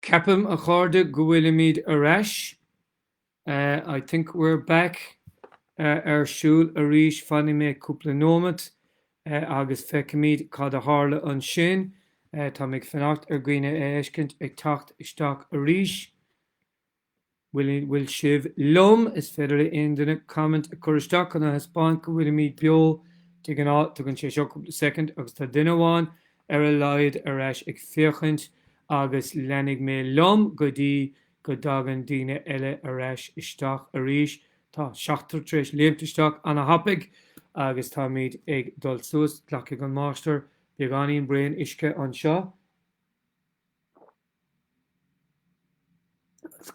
Ceapaim, a chairde, go bhfuilimid ar ais, I think we're back, ar siúl arís. Fanfaidh mé cúpla nóimeat agus feicfimid cad a tharla ansin. Táim ag fanacht ar dhaoine a fheiscint ag teacht isteach arís. An bhfuil sibh liom? Is féidir le aon duine comment a cur isteach chun a thaispeáint go bhfuilimíd beo. De ghnáth tógann sé seo soicind agus tá duine amháin ar a laghad ar ais ag féachaint agus leanfaidh mé liom go dtí go dtagann daoine eile ar ais isteach arís. Tá seachtar tar éis léimt isteach ana-thapaidh agus táimíd ag dul suas. Glacfaidh an máistir beagáinín braon uisce anseo.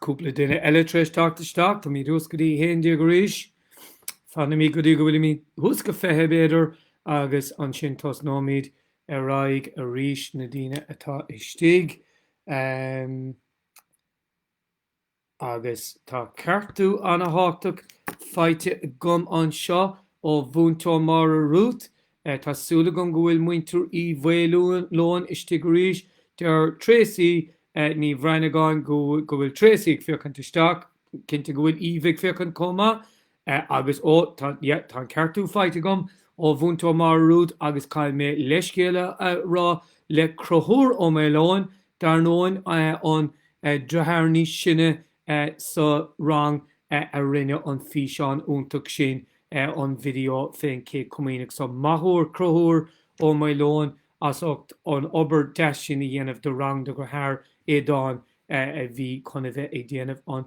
Cúpla duine eile tar éis teacht isteach. Táimid thuas go dtí a haon déag arís. Fanfaimid go dtí go bhfuilimid thuas go fiche, b'fhéidir, agus ansin tosnóimid ar aghaidh arís, na daoine atá istigh. Agus tá ceartú ana-thábhachtach faighte agam anseo ó Mhúinteoir Mairéad, tá súil agam go bhfuil Muintir Uí Mhaoileoin istigh arís, deir Tracey Ní Bhranagáin, ó, go bhfuil Tracey ag féachaint isteach, cinnte go bhfuil Eve ag féachaint chomh maith. Eh, agus ó, tá, yeah, tá an ceartú faighte agam ó Mhúinteoir Mairéad agus caithfidh mé leithscéal a, a rá le Conchúr Ó Maoileoin, dar ndóin, eh, an eh, deartháir níos sine eh, sa rang eh, a rinne an físeán iontach sin, eh, an video fén Chéad Chomaoineach. So, maith an fear Conchúr Ó Maoileoin as ucht an obair deas sin a dhéanamh do rang a dhearthár, Aodán, eh, a bhí chun a bheith ag déanamh an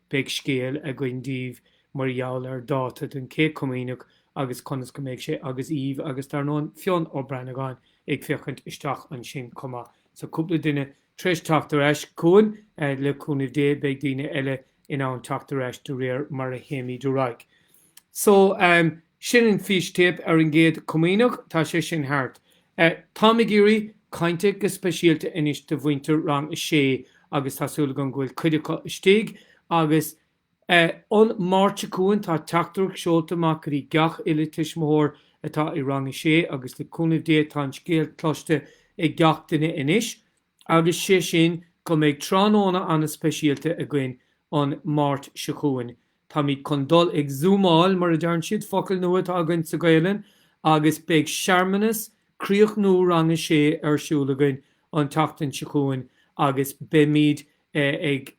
Beidh scéal againn daoibh mar gheall ar dáta don Chéad Chomaoineach agus conas go mbeidh sé agus Eve agus, dar ndóin, Fionn Ó Branagáin ag féachaint isteach ansin chomh maith. So cúpla duine tar éis teacht ar ais chugainn. Le cúnamh Dé beidh daoine eile in ann teacht ar ais de réir mar a théimid ar aghaidh. So, sin an fístéip ar an gCéad Chomaoineach, tá sé sin thart. Táim ag iarraidh cainte go speisialta anois do mhuintir Rang 6 agus tá súil agam go bhfuil cuid acu istigh agus an Mháirt seo chugainn tá teachtaireacht seolta amach go dtí gach uile tuismitheoir atá i Rang 6 agus le cúnamh Dé tá an scéal cloiste ag gach duine anois. agus sé sin go mbeidh tráthnóna ana speisialta againn an Mháirt seo chugainn. Táimid chun dul ag zúmáil, mar a deireann siad, focal nua atá againn sa Ghaelainn, agus beidh searmanas críochnú rang a sé ar siúl againn an tseachtain seo chugainn agus beimid ag.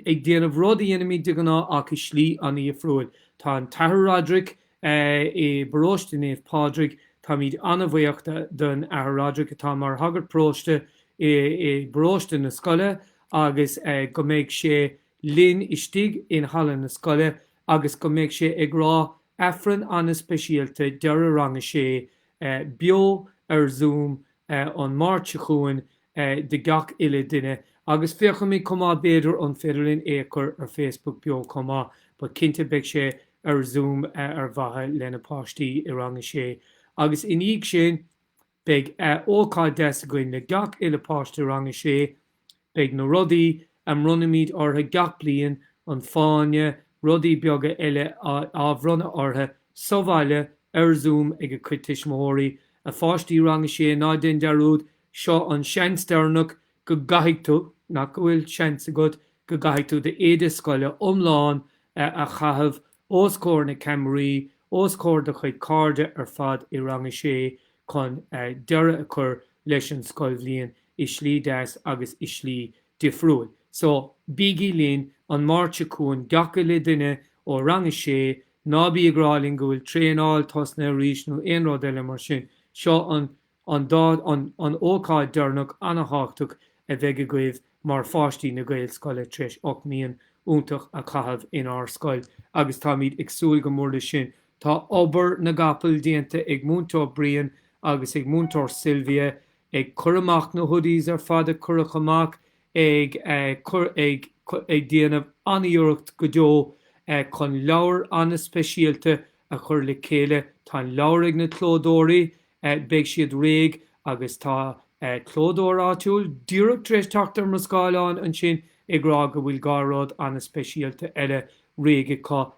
ag déanamh rud a dhéanaimid de ghnáth ach i slí an-dhifriúil. Tá an tAthair Roderick i bparóiste Naomh Pádraig. Táimid an-bhaoch den Athair Roderick atá mar shagart paróiste i bparóiste na scoile agus go mbeidh sé linn istigh i halla na scoile agus go mbeidh sé ag rá Aifreann an-speisialta deireadh Rang a Sé beo ar Zoom an Máirt seo chugainn do gach uile dhuine, agus féachfaimid chomh maith, b'fhéidir, an féidir linn é a chur ar Facebook beo chomh maith, but cinnte beidh sé ar Zoom ar mhaithe le na páistí i rang a sé. Agus i ndiaidh sin, beidh ócáid deas againn le gach uile páiste i rang a sé, Beidh na rudaí a mbronnfaimid orthu gach bliain, an Fáinne, rudaí beaga eile, á bhronnadh orthu sa bhaile, ar Zoom, ag a gcuid tuismitheoirí, a pháistí Rang 6, ná déan dearúd, seo an seans deireanach go gcaithfidh tú, nach go bhfuil seans agat, go gcaithfidh tú d'éide scoile iomlán a chaitheamh os comhair na ceamaraí, os comhair do chuid cairde ar fad i Rang a Sé chun deireadh a chur leis an scoilbhliain i slí deas agus i slí difriúil. So, bígí linn an Máirt seo chugainn gach uile duine ó Rang a Sé, ná bí ag rá liom go bhfuil traenáil tosnaithe arís nó aon rud eile mar sin, seo an An t- an ócáid deireanach an-thábhachtach a bheidh agaibh mar pháistí na Gaelscoile tar éis ocht mbliain iontach a chaitheamh inár scoil agus táimid ag súil go mór leis sin. Tá obair na gcapall déanta ag Múinteoir Brian agus ag Múinteoir Sylvia ag cur amach na hoodies ar fad a cuireadh amach ag cur ag ag déanamh an-iarracht go deo chun leabhar an-speisialta a chur le chéile. Tá an leabhar ag na clódóirí Beidh siad réidh, agus tá clódóir áitiúil díreach tar éis teacht ar mo scáileán ansin ag rá go bhfuil dhá rud ana-speisialta eile réidh acu.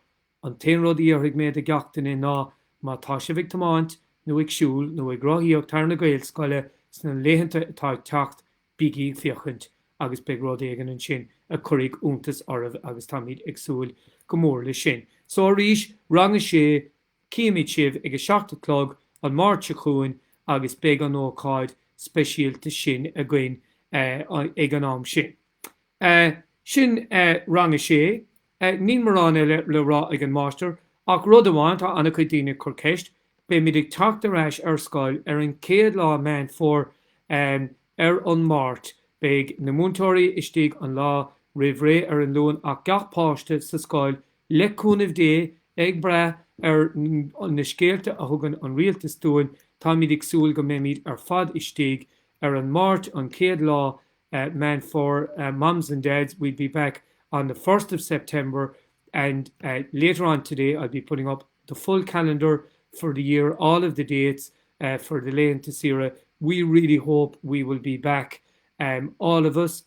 An t-aon rud a iarrfaidh mé de gach duine ná, má tá sibh ag tiomáint, nó ag siúl, nó ag rothaíocht thar na Gaelscoile sna laethanta atá ag teacht, bígí ag féachaint, agus beidh rud éigin ansin a chuirfidh iontas oraibh, agus táimid ag súil go mór leis sin. So, arís, Rang 6, Cífimid sibh ag a seacht a chlog an Máirt seo chugainn agus beidh an ócáid speisialta sin againn ag an am sin. Sin Rang 6. Níl mórán eile le rá ag an Máistir ach rud amháin, tá an-chuid daoine ag cur ceist, beimid ag teacht ar ais ar scoil ar an chéad lá Meán Fomhair ar an Máirt. Beidh na múinteoirí istigh an lá roimh ré ar an Luan ach gach páiste sa scoil Le cúnamh Dé, ag brath ar na scéalta a thugann an rialtas dúinn, táimid ag súil go mbeimid ar fad istigh ar an Máirt, an chéad lá Meán Fómhair. Moms and Dads, we'll be back on the first of September and later on today I'll be putting up the full calendar for the year, all of the dates for the laethanta saoire. We really hope we will be back, all of us.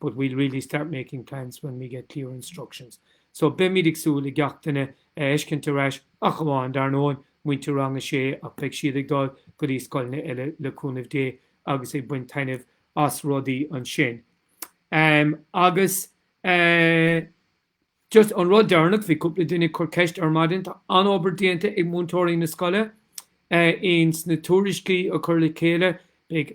but we'll really start making plans when we get clear instructions. So beimid ag súil le gach duine a fheiscint ar ais ach amháin, dar ndóigh, muintir rang a sé ach beidh siad ag dul go dtí scoileanna eile le cúnamh Dé agus ag baint taitneamh as rudaí ansin. Um, agus uh, just an rud deireanach bhí cúpla duine ag cur ceist ar maidin tá an obair déanta ag múinteoirí na scoile uh, eh, ins na tuairiscí a chur le chéile beidh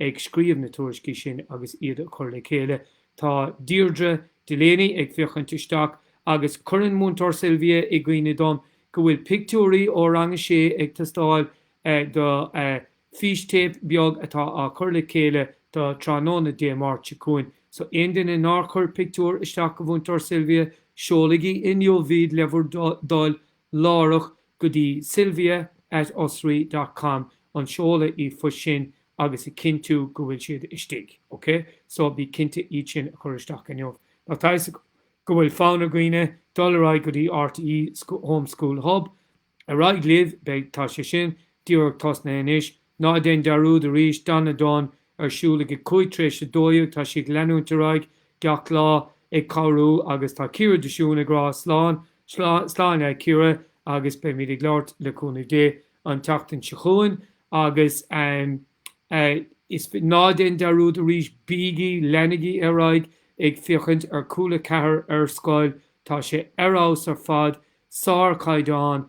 ag scríobh na tuairiscí sin agus iad a chur le chéile. Tá Deirdre Delaney ag féachaint isteach agus cuireann Múinteoir Sylvia i gcuimhne dom go bhfuil pictiúirí ó Rang a Sé ag teastáil do fístéip beag atá á chur le chéile do tráthnóna Dé Máirt seo chugainn. So aon duine nár chuir pictiúr isteach go Mhúinteoir Sylvia, seolaigí inniu iad le bhur dtoil láithreach go dtí sylvia at osraí dot com an seoladh r-phoist sin agus a chinntiú go bhfuil siad istigh. OK? So, bí cinnte iad sin a chur isteach inniu. Now tá a fhios go bhfuil fonn ar dhaoine dul ar aghaidh go dtí RTÉ Home School Hub. Ar aghaidh libh, beidh, tá sé sin díreach tosnaithe anois. Ná déan dearúd arís, Donna Dunne ar siúl ag a cúig tar éis a dó dhéag, tá sí ag leanúint ar aghaidh gach lá ag cabhrú agus tá Ciara de Siúin ag rá slán, slán, slán a Chiara agus beimid ag labhairt, le cúnamh Dé, an tseachtain seo chugainn agus em eh is ná déan dearúd arís, bígí, leanaigí ar aghaidh ag féachaint ar Cúla Ceathair ar scoil, tá sé ar fheabhas ar fad, sárchaighdeán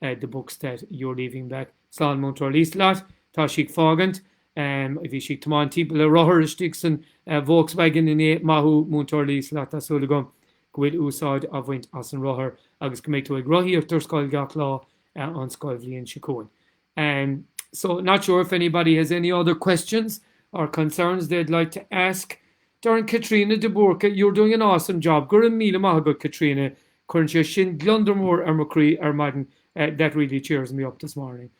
the books that you're leaving back slán múinteoir Liselott tá sí ag fágaint bhí sí ag tiomáint timpeall le rothar istigh san Volkswagen inné maith thú múinteoir Liselott tá súil agam go bhfuil úsáid á bhaint as an rothar agus go mbeidh tú ag rothaíocht ar scoil gach lá an scoilbhliain seo chugainn um so not sure if anybody has any other questions or concerns they'd like to ask Deireann Caitríona de Búrca you're doing an awesome job go raibh míle maith agat Caitríona Cuireann sé sin gliondar mór ar mo chroí ar maidin that really cheers me up this morning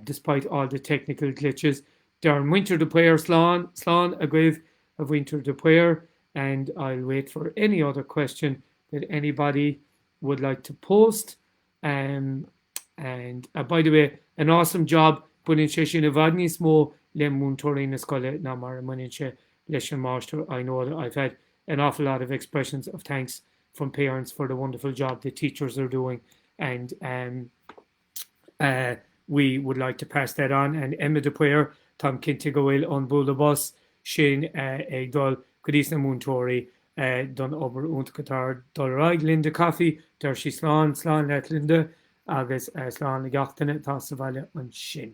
despite all the technical glitches. Deireann muintir de Paor Slán, slán agaibh, a mhuintir de Paor and I'll wait for any other question that anybody would like to post and and by the way an awesome job baineann sé sin i bhfad níos mó le múinteoirí na scoile ná mar a mbaineann sé leis an máistir I know that I've had an awful lot of expressions of thanks from parents for the wonderful job the teachers are doing and um uh we would like to pass that on and Emma de Paor táim cinnte go bhfuil an bualadh bos sin uh ag dul go dtís na múinteoirí uh don obair iontach atá ag dul ar aghaidh Linda Coffey deir sí slán slán leat Linda agus uh slán le gach duine atá sa bhaile ansin.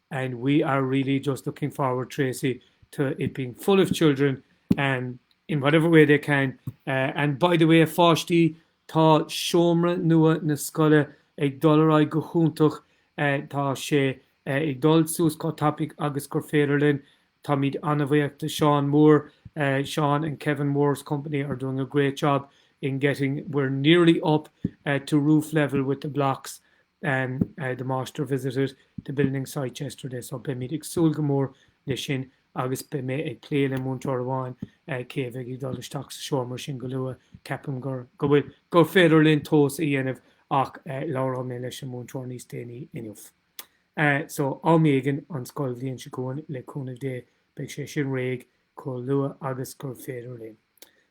and we are really just looking forward, Tracey, to it being full of children in whatever way they can uh and by the way, a pháistí, tá seomra nua na scoile ag dul ar aghaidh go hiontach, uh tá sé uh ag dul suas chomh tapaidh agus gur féidir linn Táimid an-bhuíoch de Seán Moore, Seán and Kevin Moore's company are doing a great job in getting, we're nearly up to roof level with the blocks, the master visited the building site yesterday so beimid ag súil go mór leis sin agus beidh mé ag plé le múinteoir amháin cé a bheidh ag dul isteach sa seomra sin go luath, ceapaim gur, go bhfuil, gur féidir linn tomhas a dhéanamh ach labhróidh mé leis an múinteoir níos déanaí inniu. So, am éigin an scoilbhliain seo chugainn, le cúnamh Dé, beidh sé sin réidh, chomh luath agus gur féidir linn.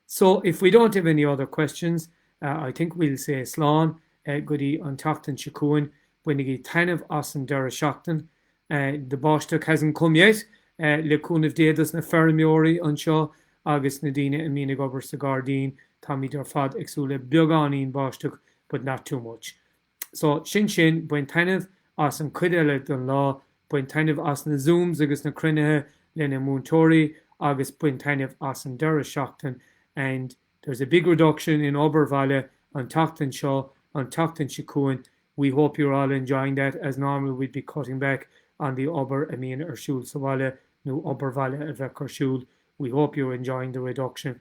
So, if we don't have any other questions, I think we'll say slán go dtí an tseachtain seo chugainn. Bainigí taitneamh as an deireadh seachtaine. The báisteach hasn't come yet, le cúnamh Dé dos na feirmeoirí anseo agus na daoine a bhíonn ag obair sa ghairdín. Táimid ar fad ag súil le beagáinín báisteach, but not too much. So, sin sin. Bain taitneamh as an cuid eile den lá, bain taitneamh as na zooms agus na cruinnithe le na múinteoirí agus bain taitneamh as an deireadh seachtaine and there's a big reduction in obair bhaile an tseachtain seo, an tseachtain seo chugainn we hope you're all enjoying that as normally we'd be cutting back on the obair a bhíonn ar siúl sa bhaile nó obair bhaile a bheadh ar siúl we hope you're enjoying the reduction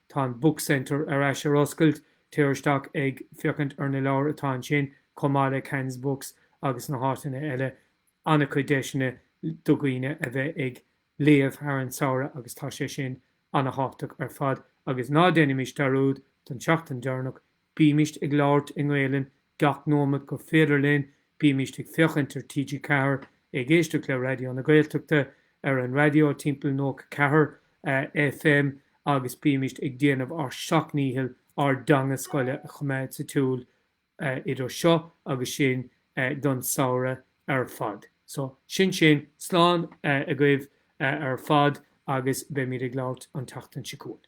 Tá an Book Centre ar ais ar oscailt, téir isteach ag féachaint ar na leabhair atá ansin, chomh maith le Cairns Books agus na háiteanna eile. An-chuid deiseanna do dhaoine a bheith ag léamh thar an samhradh agus tá sé sin an-thábhachtach ar fad. Agus ná déanaimis dearúd don tseachtain deireanach Bímíst ag labhairt i nGaelainn gach nóimeat gur féidir linn, bímíst ag féachaint ar TG4, ag éisteacht le Raidió na Gaeltachta ar an raidió timpeall 94 FM agus bímíst ag déanamh ár seacht ndícheall ár dteanga scoile a choimeád sa siúl idir seo agus sin don samhradh ar fad. So, sin sin, slán agaibh ar fad agus beimid ag labhairt an tseachtain seo chugainn.